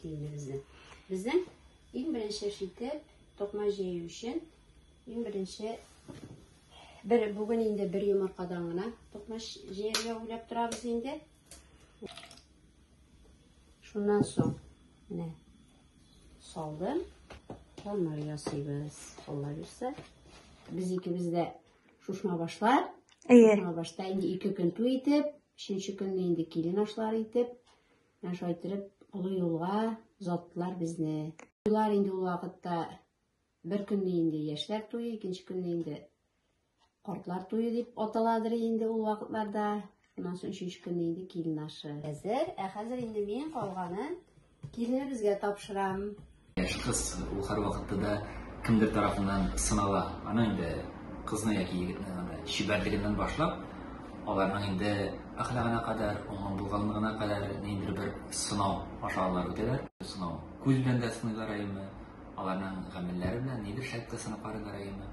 Киемебезне. Безнең иң беренче эш итеп, токма җәю өчен иң беренче бер бүген инде бер йомыркадан гына токма җәяргә уйлап торабыз инде. Шуннан соң менә салдым. Томар ясыйбыз. Алла бирсә. Без икебез дә шушма башлар. Әйе. Шушма башта инде ике көн туй итеп, өченче көнне инде килен ашлар итеп, Менә шулай иттереп, олы юлга озаттылар безне. Туйлар инде ул вакытта бер көнне инде яшьләр туе, икенче көнне инде картлар туе дип аталадыр инде ул вакытларда. Шуннан соң өченче көнне инде килен ашы. Әзер, ә хәзер инде мин калганын киленебезгә тапшырам. Яшь кыз ул һәрвакытта да кемдер тарафыннан сынала. Аның инде кызны яки егетне анда чибәрлегеннән башлап, аларның инде әхлагына кадәр, уңган булганлыгына кадәр ниндидер бер сынау аша алар үтәләр. Сынау күз белән дә сыныйлар әйеме, аларның гамәлләре белән нидер шәккә сынап карыйлар әйеме.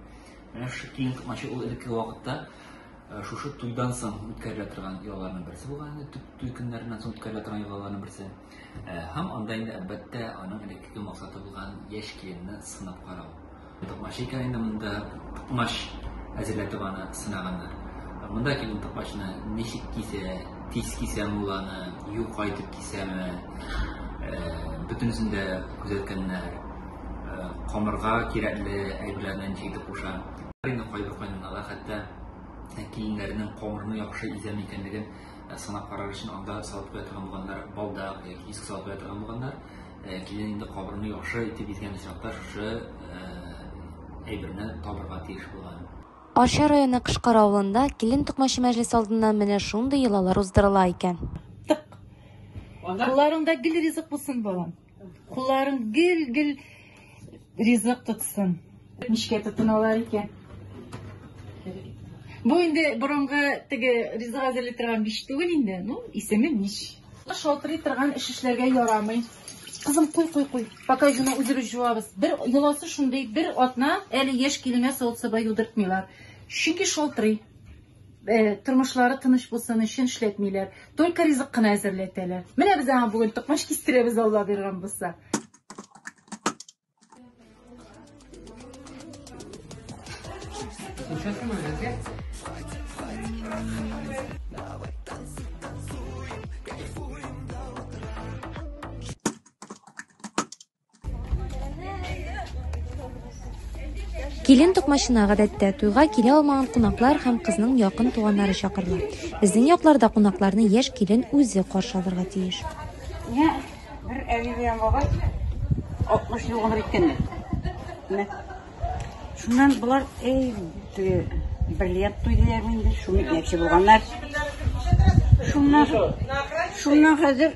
Менә шушы киң токмачы ул элекке вакытта шушы туйдан соң үткәрелә торган йолаларның берсе булган инде, туй көннәреннән соң үткәрелә торган йолаларның берсе. Э, һәм анда инде әлбәттә аның элеккеге максаты булган яшь киленне сынап карау токмач икән инде монда токмач әзерләтеп аны сынаганнар монда килен токмачны ничек кисә тиз кисәме ул аны юка итеп кисәме э, бөтенесен дә күзәткәннәр э, камырга кирәкле әйберләрне ничек итеп куша инде кайбер кайнанала хәтта киленнәрнең камырны яхшы изәме икәнлеген Сынап карар өчен анда салып куя торган булганнар, балдак яки иск салып куя торган булганнар. Килен инде кабырны яхшы итеп изгән очракта шушы әйберне табырга тиеш булган. Арча районы Кышкар авылында килен токмачы мәҗлесе алдыннан менә шундый йолалар уздырыла икән. Кулларыңда гел ризык булсын, балам! Кулларың гел-гел ризык тотсын. Ничкә тотыналар икән? Бу инде борынгы теге ризык әзерли торган биш түгел инде. Ну, исеме мич. Шалтырый торган эш эшләргә ярамый. Кызым, куй, куй, куй. Пока җуна үзебез җуабыз. Бер йоласы шундый, бер атна әле яшь киленгә савыт-саба юдыртмыйлар. Чөнки шалтырый. Э, тормышлары тыныч булсын өчен эшләтмиләр только ризык кына әзерләтәләр менә без аңа бүген токмач кистерәбез алла биргән булса Килен токмачына гадәттә туйга килә алмаган кунаклар һәм кызның якын туганнары чакырыла. Безнең якларда кунакларны яшь килен үзе каршы алырга тиеш. Менә бер әби белән бабай 60 ел гомер иткәннәр. Менә шуннан болар эй бриллиант туйдылар инде, шуны әйтә булганнар. Шуннан шуннан хәзер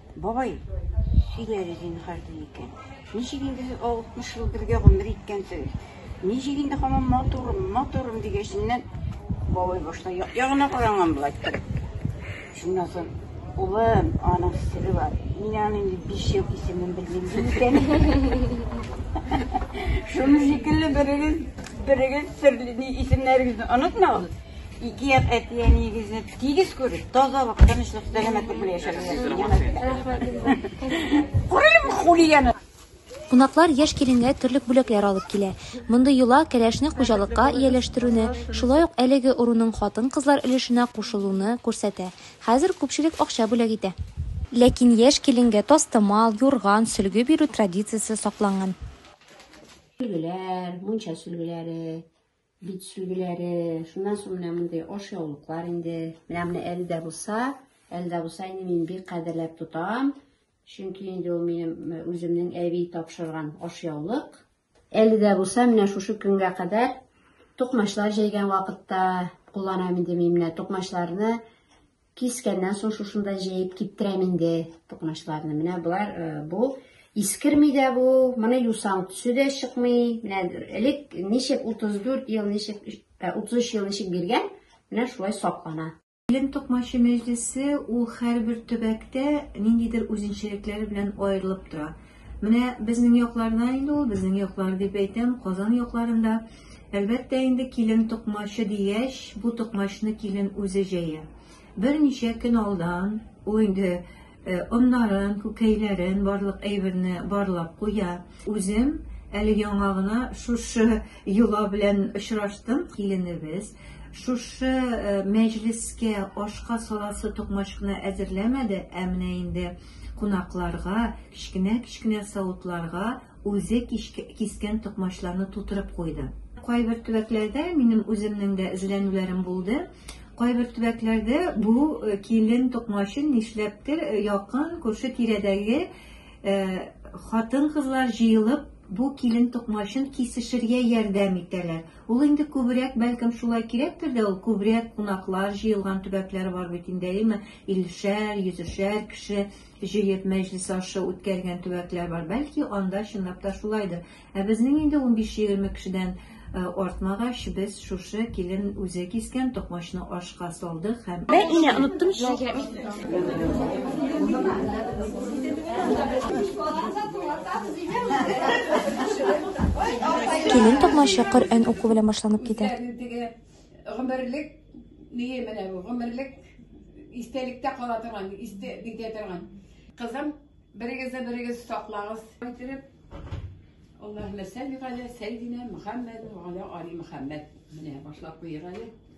Бабай, син әле зинһар ди икән. Ничек инде сез алтмыш ел бергә гомер иткәнсегез? Ничек инде һаман матурым, матурым дигәченнән, бабай башта як-ягына каранган була иттереп. Шуннан соң, улым, аның сере бар. Мин аны инде биш ел исемен белмим ди икән. Шуның шикелле берегез, берегез серле исемнәрегезне онытмагыз. Ике як әти-әниегезне Тигез күреш, тазалык, тынычлык, сәламәтлек белән яшәгез. Кунаклар яшь киленгә терлек бүләкләр алып килә. Мондый йола кәләшне хуҗалыкка ияләштерүне, шулай ук әлеге ыруның хатын-кызлар өлешенә кушылуны күрсәтә. Хәзер күпчелек акча бүләк итә. Ләкин яшь киленгә тастымал, юрган, сөлге бирү традициясе сакланган. Сөлгеләр, мунча сөлгеләре. Бит сүгеләре, шуннан соң менә мондый ашъяулыклар инде. Менә менә әле дә булса, әле дә булса инде мин бик кадерләп тотам. Чөнки инде ул минем э, үземнең әби тапшырган ашъяулык. Әле дә булса, менә шушы көнгә кадәр тукмачлар җәйгән вакытта кулланам инде мин менә тукмачларны Кискәннән соң шушында җәеп киптерәм инде токмачларны. Менә болар э, бу искерми дә бу, моны юсаң төсе дә чыкмый. Менә элек ничек 34 ел, ничек 33 э, ел ничек биргән, менә шулай саклана. Белем токмачы мәҗлесе ул һәрбер төбәктә ниндидер үзенчәлекләре белән аерылып тора. Менә безнең якларда инде ул, безнең яклар дип әйтәм, Казан якларында. Әлбәттә инде килен токмачы дигәч, бу токмачны килен үзе җәя. Берничә көн алдан ул инде э, оннарын, күкәйләрен, барлык әйберне барлап куя. Үзем әле яңа гына шушы йола белән очраштым, киленебез. Шушы э, мәҗлескә ашка саласы токмачны әзерләмәде, ә менә инде Кунакларга, кечкенә-кечкенә савытларга үзе кискән токмачларны тутырып куйды. Кайбер төбәкләрдә минем үземнең дә эзләнүләрем булды. Кайбер төбәкләрдә бу э, килен токмачын нишләптер э, якын күрше тирәдәге э, хатын-кызлар җыелып бу килен токмачын кисешергә ярдәм итәләр. Ул инде күбрәк, бәлкем, шулай кирәктер дә, ул күбрәк кунаклар җыелган төбәкләр бар бит инде, әйеме? Иллешәр, йөзешәр кеше җыеп мәҗлес ашы үткәргән төбәкләр бар. Бәлки, анда чынлап та шулайдыр. Ә безнең инде унбиш-егерме кешедән артмагач, без шушы килен үзе кискән токмачны ка салды һәм Бә инә оныттым чи. Килен токмачы Коръән уку белән башланып китә. Гомерлек ние менә бу, гомерлек истәлектә кала торган, истә битә торган. Кызым, берегезне берегез саклагыз. Китереп Аллаһуммә салли галә сәйдинә Мөхәммәд ва галә али Мөхәммәд. Менә башлап куйыйк әле.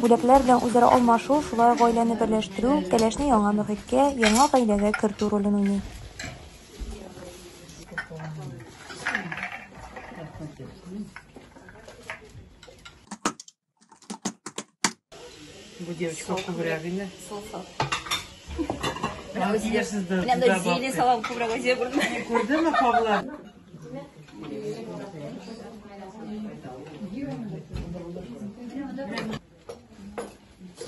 Бүләкләр белән үзара алмашу, шулай ук гаиләне берләштерү, кәләшне яңа мөхиткә, яңа гаиләгә кертү ролен уйный. Бу девочка күбрәк инде. Менә монда зелень салам күбрәк азия күрдем. Күрдеңме, Павла?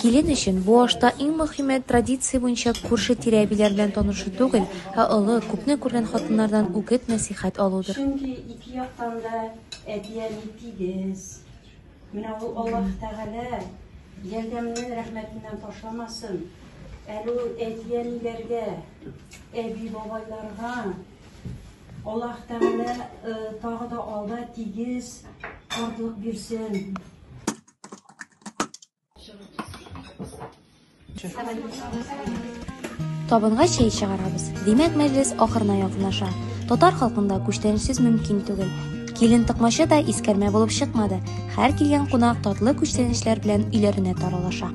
Килен өчен бу ашта иң мөһиме традиция буенча күрше тирә әбиләр белән танышу түгел, ә олы, күпне күргән хатыннардан үгет нәсыйхәт алудыр. Чөнки ике яктан да әти-әни тигез. Менә ул Аллаһ Тәгалә ярдәмне рәхмәтеннән ташламасын. Әле ул әти-әниләргә, әби-бабайларга Аллаһ Тәгалә э, тагы да алда тигез картлык бирсен. Табынга чәй чыгарабыз. Димәк, мәҗлес ахырына якынлаша. Татар халкында күчтәнәчсез мөмкин түгел. Килен тыкмачы да искәрмә булып чыкмады. Һәр килгән кунак татлы күчтәнәчләр белән өйләренә таралаша.